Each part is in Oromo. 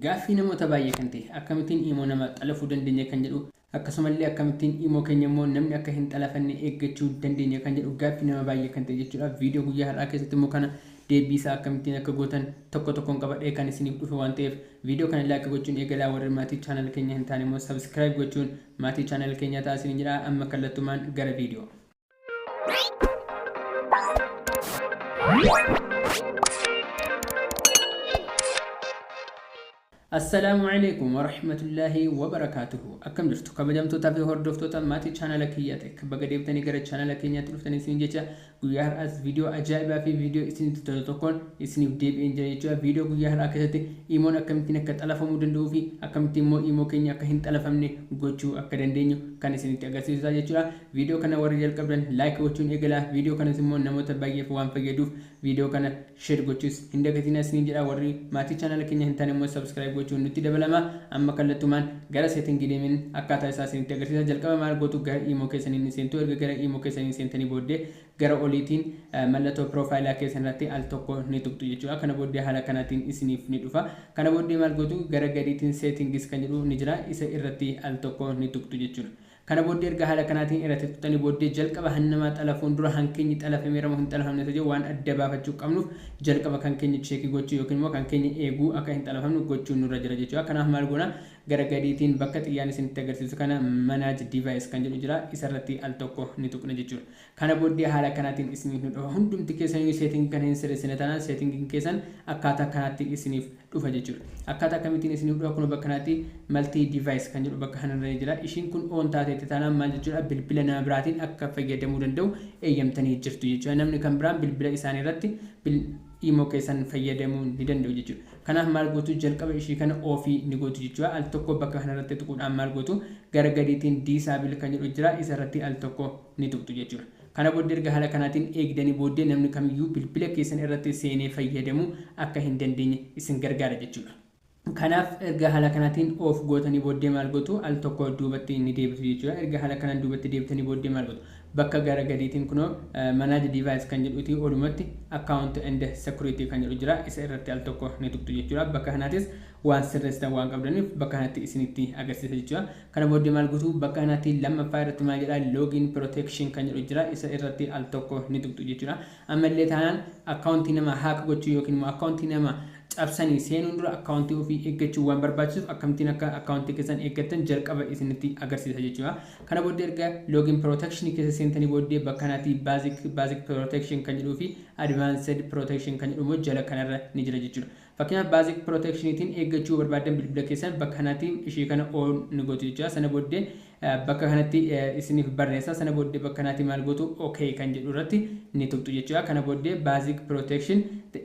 Gaaffii namoota baay'ee kan ta'e akkamittiin imo nama xalafuu dandeenya kan jedhu akkasumallee akkamittiin imo keenya immoo namni akka hin xalafanne eeggachuu dandeenya kan jedhu gaaffii nama baay'ee kan ta'e jechuudha. Viidiyoo guyyaa har'aa keessatti immoo kana deebbii isaa akkamittiin akka gootan tokko tokkoon qabadhee kan isiniif dhufe waan ta'eef viidiyoo kana like gochuun eegalaa warri maatii channel keenya hin taane immoo subscribe gochuun maatii channel keenyaa ta'aa isiniin jedha amma kallattumaan gara viidiyoo Assalaamu alaikum warahmatullaahi wabarakaatuhu akkam jirtu kabajamtootaa fi hordoftoota maatii chaanala kiyyaa tek baga deebitanii gara chaanala keenyaatti dhuftanii isin jecha guyyaa har'aas viidiyoo ajaa'ibaa fi viidiyoo isinitti tolu tokkoon isiniif deebi'een jira jechuudha viidiyoo guyyaa har'aa keessatti imoon akkamittiin akka xalafamuu danda'uu fi akkamittiin immoo imoo keenya akka hin xalafamne gochuu akka dandeenyu kan isinitti agarsiisuudha jechuudha Video kana warri jalqabdan like gochuun eegalaa video kanas immoo namoota baay'eef waan fayyaduuf video kana share gochuus hin dagatinaa isiniin jedha warri maatii channel keenya hin taane immoo subscribe gochuun nutti dabalama amma kallattumaan gara setting deemin akkaataa isaa isinitti agarsiisa jalqaba maal gootu gara imo keessaniin ni seentu erga gara imo keessaniin seentanii booddee gara oliitiin mallattoo profile keessan irratti al tokko ni tuqxu jechuudha kana booddee haala kanaatiin isiniif ni dhufa kana booddee maal gootu gara gadiitiin settings kan jedhu ni jira isa irratti al tokko ni tuqxu jechuudha Kana booddee erga haala kanaatiin irra tirtutanii booddee jalqaba han namaa xalafuun dura han keenyi xalafameera moo hin xalafamne osoo jiru waan adda baafachuu qabnuuf jalqaba kan keenya cheekii gochuu yookiin immoo kan keenya eeguu akka hin xalafamne gochuun nurra jira jechuudha. Kanaaf maal goona gara gadiitiin bakka xiyyaan isinitti agarsiisu kana manage device kan jedhu jira isarratti al tokko ni tuqna jechuudha. Kana booddee haala kanaatiin isiniif ni dhufa. Hundumti keessaniyyuu setting kana hin sirreessine taanaan setting keessan akkaataa kanaatti isiniif dhufa jechuudha. Akkaataa akkamittiin isiniif dhufa kunoo bakka kanatti multi device kan jedhu bakka kanarra ni jira. Ishiin kun on taateetti taanaan maal jechuudha bilbila nama biraatiin akka fayyadamuu danda'u eeyyamtanii jirtu jechuudha. Namni kan biraan bilbila isaanii irratti bil imo keessan fayyadamuu ni danda'u jechuudha. Kanaaf maal gootu jalqaba ishii kana off ni gootu jechuudha. Al tokko bakka kanarratti tuquudhaan maal gootu gara gadiitiin disable kan jedhu jira isa irratti al tokko ni tuqxu jechuudha. Kana booddee erga haala kanaatiin eegdanii booddee namni kamiyyuu bilbila keessan irratti seenee fayyadamuu akka hin dandeenye isin gargaara jechuudha. Kanaaf erga haala kanaatiin off gootanii booddee maal gootu al tokko duubatti ni deebitu jechuudha. Erga haala kanaan duubatti deebitanii booddee maal gootu bakka gara gadiitiin kunoo manage device kan jedhuutii olumatti account and security kan jedhu jira isa irratti al tokko ni tuqxu jechuudha. Bakka kanaatis waan sirreessitan waan qabdaniif bakka kanatti isinitti agarsiisa jechuudha. Kana booddee maal gootu? Bakka kanaatti lammaffaa irratti maal jedha? Login protection kan jedhu jira. Isa irratti al tokko ni tuqxu jechuudha. Amma illee taanaan akkaawuntii namaa haak gochuu yookiin immoo akkaawuntii nama cabsanii seenuun dura akkaawuntii ofii eeggachuun waan barbaachisuuf akkamittiin akka akkaawuntii keessan eeggattan jalqaba isinitti agarsiisa jechuudha. Kana booddee erga login protection keessa seentanii booddee bakka kanaatti basic basic protection kan jedhuu fi advanced protection kan jedhu immoo jala kanarra ni jira jechuudha. Fakkeenyaaf basic protection tiin eeggachuu yoo barbaaddan bilbila keessan bakka kanati ishii kana on ni gotu jechuudha. Sana booddee bakka kanatti isiniif barreessa. Sana booddee bakka kanati maal gootu ok kan jedhu irratti ni tuqxu jechuudha. Kana booddee basic protection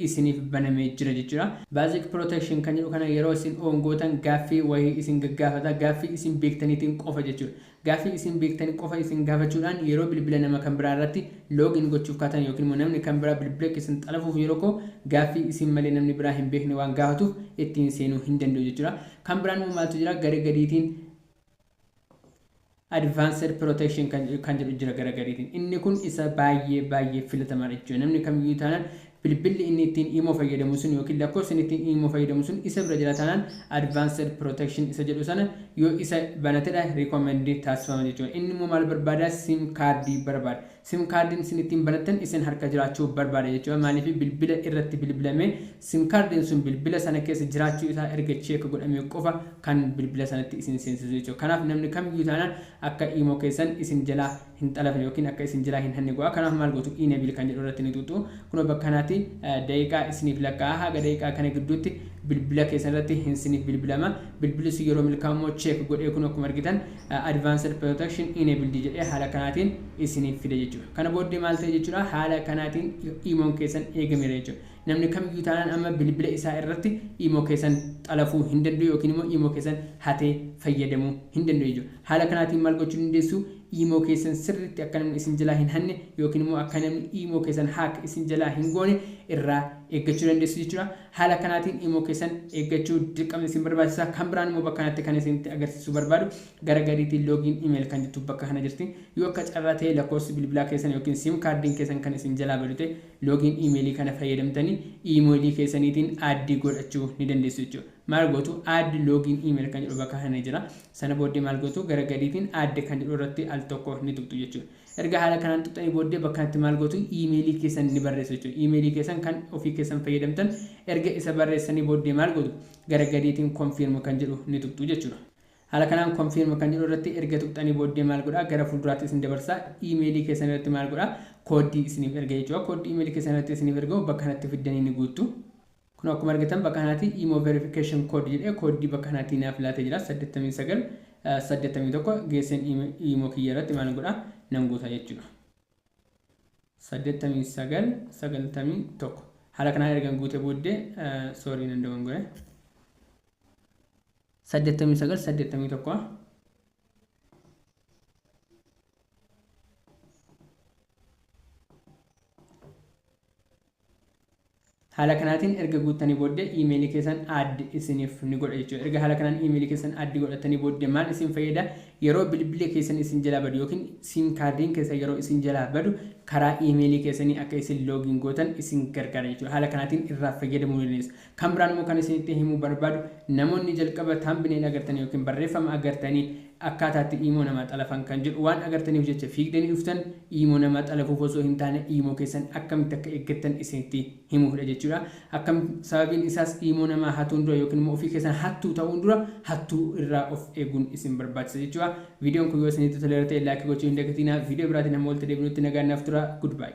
isiniif banamee jira jechuudha. Basic protection kan jedhu kana yeroo isin on gootan gaaffii wayii isin gaggaafata. Gaaffii isin beektaniitiin qofa jechuudha. Gaaffii isin beektan qofa isin gaafachuudhaan yeroo bilbila nama kan biraa irratti log in gochuuf kaatan ykn immoo namni kan biraa bilbila keessan xalafuuf yeroo ka'u gaaffii isin malee namni biraa hin beekne waan gaafatuuf ittiin seenuu hin danda'u jechuudha. Kan biraan immoo maaltu jira gara gadiitiin advanced protection kan jedhu jira gara gadiitiin. Inni kun isa baay'ee baay'ee filatamaadha jechuudha. Namni kamiyyuu taanaan Bilbilli inni ittiin imo fayyadamu sun ykn lakkoofsi inni ittiin imo fayyadamu sun isa bira jira taanaan advanced protection isa jedhu sana yoo isa banatedha recommend taasifama jechuudha. Inni immoo maal barbaada sim card barbaada. Sim card isin ittiin banattan isin harka jiraachuu barbaada jechuudha. Maaliif bilbila irratti bilbilamee sim card sun bilbila sana keessa jiraachuu isaa erga check godhamee qofa kan bilbila sanatti isin seensisu jechuudha. Kanaaf namni kamiyyuu taanaan akka imo keessan isin jalaa hin xalafne yookiin akka isin jiraa hin hanne go'a kanaaf maal gootu enable kan jedhu irratti ni xuxxu kunoo bakka kanaatti daqiiqaa isiniif lakkaa'a haga daqiiqaa kana gidduutti bilbila keessan irratti hin siniif bilbilama bilbilli sun yeroo milkaa'u immoo check godhee kunoo akkuma argitan advanced protection enabled jedhee haala kanaatiin isiniif fida jechuudha kana booddee maal ta'e jechuudha haala kanaatiin imoon keessan eegameera jechuudha Namni kamiyyuu taanaan amma bilbila isaa irratti imo keessan xalafuu hin danda'u yookiin immoo imo keessan hatee fayyadamuu hin danda'u jechuudha. Haala kanaatiin maal gochuu dandeessu? Imo keessan sirriitti akka namni isin jalaa hin hanne yookiin immoo akka namni imo keessan hack isin jalaa hin goone irraa eeggachuu dandeessu jechuudha. Haala kanaatiin imo keessan eeggachuu dirqama isin barbaachisa. Kan biraan immoo bakka kanatti kan isinitti agarsiisuu barbaadu gara gadiitiin login email kan jettu bakka kana jirti. Yoo akka carraa ta'e lakkoofsi bilbilaa keessan yookiin sim kaardiin keessan kan isin jalaa badu ta'e Login email kana fayyadamtani email keessaniitiin add godhachuu ni dandeessu jechuudha. Maal gootu add login email kan jedhu bakka kana ni jira. Sana booddee maal gootu gara gadiitiin add kan jedhu irratti al tokko ni tuqxu jechuudha. Erga haala kanaan tuqxanii booddee bakka kanatti maal gootu email keessan ni barreessu jechuudha. Email keessan kan ofii keessan fayyadamtan erga isa barreessanii booddee maal gootu gara gadiitiin confirm kan jedhu ni tuqxu jechuudha. Haala kanaan confirm kan jedhu irratti erga tuqxanii booddee maal godha gara fuulduraatti isin dabarsa email keessan irratti maal godha kooddii isiniif erga jechuudha kooddii email keessan irratti isiniif ergamu bakka kanatti fiddanii ni guuttu kun akkuma argitan bakka kanaatii imo verification code jedhee kooddii bakka kanaatii naaf laatee jira 89 81 geesseen imo kiyya irratti maal godha nan guuta jechuudha 89 91 haala kanaan ergan guute booddee soorii nan dogongore saddeettamii sagal saddeettamii tokko haala kanaatiin erga guuttanii booddee iimeelii keessan addi isiniif ni godha jechuudha erga haala kanaan iimeelii keessan addi godhatanii booddee maal isin fayyada yeroo bilbilli keessan isin jalaa badu yookiin siim kaardiin keessan yeroo isin jalaa badu karaa iimeelii keessanii akka isin loogiin gootan isin gargaara jechuudha haala kanaatiin irraa fayyadamuu dandeessu Kan biraan immoo kan isinitti himuu barbaadu namoonni jalqaba thumbnail agartanii yookiin barreeffama agartanii akkaataa itti iimoo namaa xalafan kan jedhu waan agartaniif jecha fiigdanii dhuftan iimoo namaa xalafuuf osoo hin taane iimoo keessan akkamitti akka eeggattan isinitti himuufidha jechuudha. Akkam sababiin isaas iimoo namaa hatuun dura yookiin immoo ofii keessan hattuu ta'uun dura hattuu irraa of eeguun isin barbaachisa jechuudha. Viidiyoon kun yoo isinitti toleera ta'e laayikii gochuu hin dagatinaa. Viidiyoo biraatiin hamma walitti deebinutti nagaan naaf turaa. Goodbye.